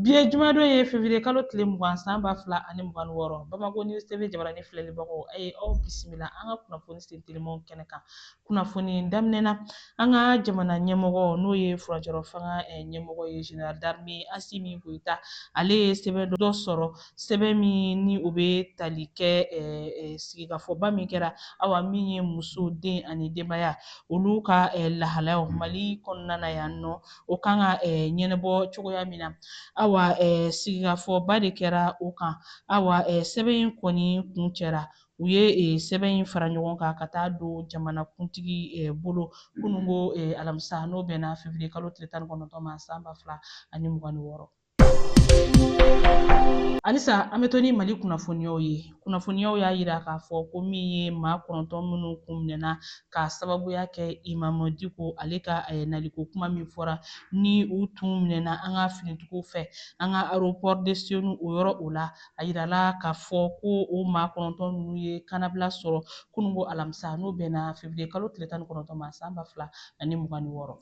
Bi ye jumadon ye février kalo tile mugan san ba fila ani mugan ni wɔɔrɔ Bamako News TV jabarani filɛlibagaw a ye aw bisimila an ka kunnafoni sentelimanw kɛnɛ kan kunnafoni daminɛ na an ka jamana ɲɛmɔgɔ n'o ye furancɛrɔ fanga eh, ɲɛmɔgɔ ye général d'armée Asimi Goyita ale ye sɛbɛn dɔ sɔrɔ sɛbɛn min ni o bɛ tali kɛ eh, eh, sigikafɔba min kɛra awa min ye muso den ani denbaya olu ka lahalayaw Mali kɔnɔna na yan nɔ o kan ka ɲɛnabɔ cogoya min na awa sigikafɔba de kɛra o kan awa sɛbɛn in kɔni kuncɛra u ye sɛbɛn in fara ɲɔgɔn kan ka taa don jamanakuntigi bolo kunungo alamisa n'o bɛnna fevriye kalo tile tan ni kɔnɔntɔn ma san ba fila ani mugan ni wɔɔrɔ Halisa an bɛ to ni Mali kunnafoniyaw ye kunnafoniyaw y'a yira k'a fɔ ko min ye maa kɔnɔntɔn minnu kun minɛna k'a sababuya kɛ Imam Diko ale ka eh, naliko kuma min fɔra ni u tun minɛna an ka finitigiw fɛ an ka aéroport de Senu o yɔrɔ o la a yirala k'a fɔ ko o maa kɔnɔntɔn ninnu ye kannabila sɔrɔ kunungo alamisa n'o bɛnna février kalo tile tan ni kɔnɔntɔn ma san ba fila ani mugan ni wɔɔrɔ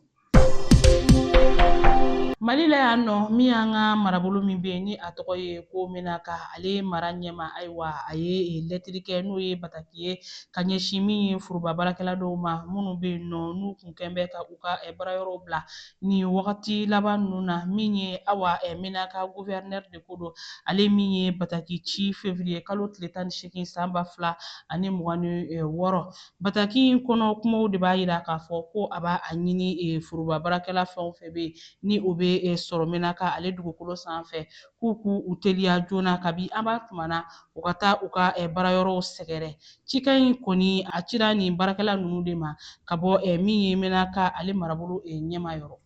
Mali la yan nɔ min y'an ka marabolo min bɛ yen ni a tɔgɔ ye ko Menaka ale mara ɲɛmaa ayiwa a ye lɛtiri kɛ n'o ye bataki ye ka ɲɛsin min ye foroba baarakɛla dɔw ma minnu bɛ yen nɔ n'u kun kɛn bɛ ka u ka baarayɔrɔw bila nin wagati laban ninnu na min ye awa Menaka guvɛrinɛri de ko don ale min ye bataki ci fevriye kalo tile tan ni seegin san ba fila ani mugan ni wɔɔrɔ Bataki in kɔnɔ kumaw de b'a yira k'a fɔ ko a b'a a ɲini e, foroba baarakɛla fɛn o fɛn bɛ yen ni o bɛ e, sɔrɔ Menaka ale dugukolo sanfɛ k'u k'u u teliya joona kabi an b'a tuma na u ka taa u ka e, baarayɔrɔw sɛgɛrɛ. Cikan in kɔni a cira nin baarakɛla ninnu de ma ka bɔ e, min ye Menaka ale marabolo e, ɲɛmaa yɔrɔ.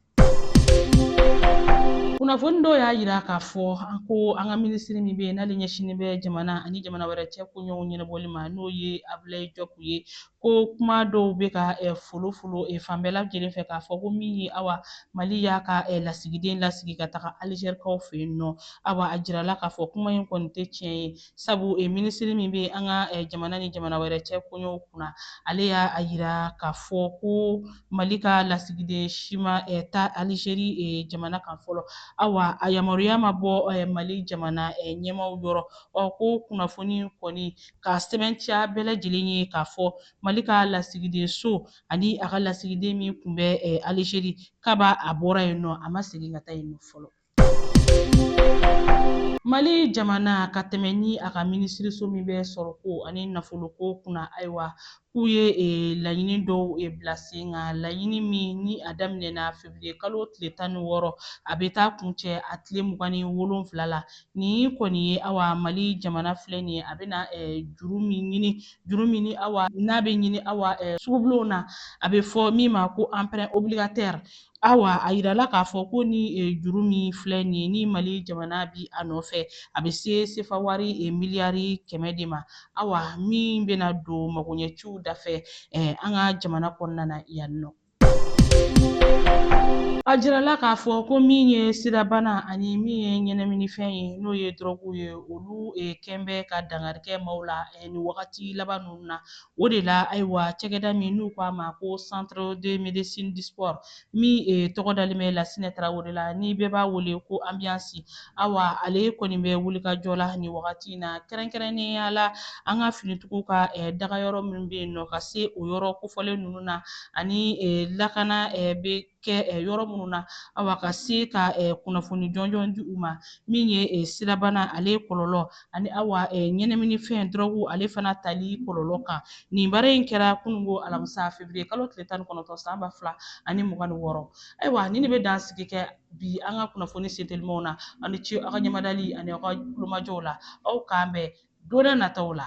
kunnafoni dɔw y'a yira k'a fɔ a ko an ka minisiri min bɛ yen n'ale ɲɛsinnen bɛ jamana ani jamana wɛrɛ cɛ koɲɔw ɲɛnabɔli ma n'o ye abilayi jɔpu ye ko kuma dɔw bɛ ka folofolo fan bɛɛ lajɛlen fɛ k'a fɔ ko min ye awa mali y'a ka lasigiden lasegin ka taga alizerikaw fɛ yen nɔ awa a jirala k'a fɔ kuma in kɔni tɛ tiɲɛ ye sabu e minisiri min bɛ an ka jamana ni jamana wɛrɛ cɛ koɲɔw kunna ale y'a a yira k'a fɔ ko mali ka lasigiden si ma taa alizeri jamana kan fɔlɔ awa a yamaruya ma bɔ mali jamana ɲɛmaaw yɔrɔ ɔ ko kunnafoni kɔni ka sɛbɛntiya bɛɛ lajɛlen ye k'a fɔ mali ka lasigiden so ani a ka lasigiden min kun bɛ alizeri kaba a bɔra yen nɔ a ma segin ka taa yen nɔ fɔlɔ Mali jamana ka tɛmɛ ni a ka minisiriso min bɛ sɔrɔko ani nafoloko kunna ayiwa k'u ye e, laɲini dɔw e, bila sen kan laɲini min ni a daminɛna feburuye kalo tile tan ni wɔɔrɔ a bɛ taa kuncɛ a tile mugan ni wolonfila la nin kɔni ye awa Mali jamana filɛ nin ye a bɛna juru min ɲini juru min ni awa n'a bɛ ɲini awa sugubulonw na a bɛ fɔ min ma ko emprunt obligataire Awa a yirala k'a fɔ ko ni e, juru min filɛ nin ye ni Mali jamana bi a nɔfɛ a bɛ se sefa wari e, miliyari kɛmɛ de ma awa min bɛna don magoɲɛciw dafɛ e, an ka jamana kɔnɔna na yan nɔ. A jirala k'a fɔ ko min ye sidabana ani min ye ɲɛnaminifɛn ye n'o ye dɔrɔgu ye olu e, kɛn bɛ ka dankari kɛ maaw la e, nin wagati laban ninnu na O de la ayiwa cakɛda min n'u k'a ma ko centre de médecine du sport min e, tɔgɔ dalen bɛ Lasinɛ Tarawele la ni bɛɛ b'a wele ko Ambiance awa ale kɔni bɛ wulikajɔ la nin wagati in na kɛrɛnkɛrɛnnenya la an ka finitigiw ka e, dagayɔrɔ min bɛ yen nɔ ka se o yɔrɔ kofɔlen ninnu na ani e, lakana e, bɛ kɛ yɔrɔ minnu na awa ka se ka kunnafoni jɔnjɔn di u ma min ye sidabana ale kɔlɔlɔ ani awa ɲɛnaminifɛn dɔrɔgu ale fana tali kɔlɔlɔ kan nin baara in kɛra kunungo alamisa feburuye kalo tile tan ni kɔnɔntɔn san ba fila ani mugan ni wɔɔrɔ ayiwa nin de bɛ dansigi kɛ bi an ka kunnafoni sentelimanw na aw ni ce aw ka ɲɛmadali ani aw ka kulomajɔw la aw k'an bɛn don n'a nataw la.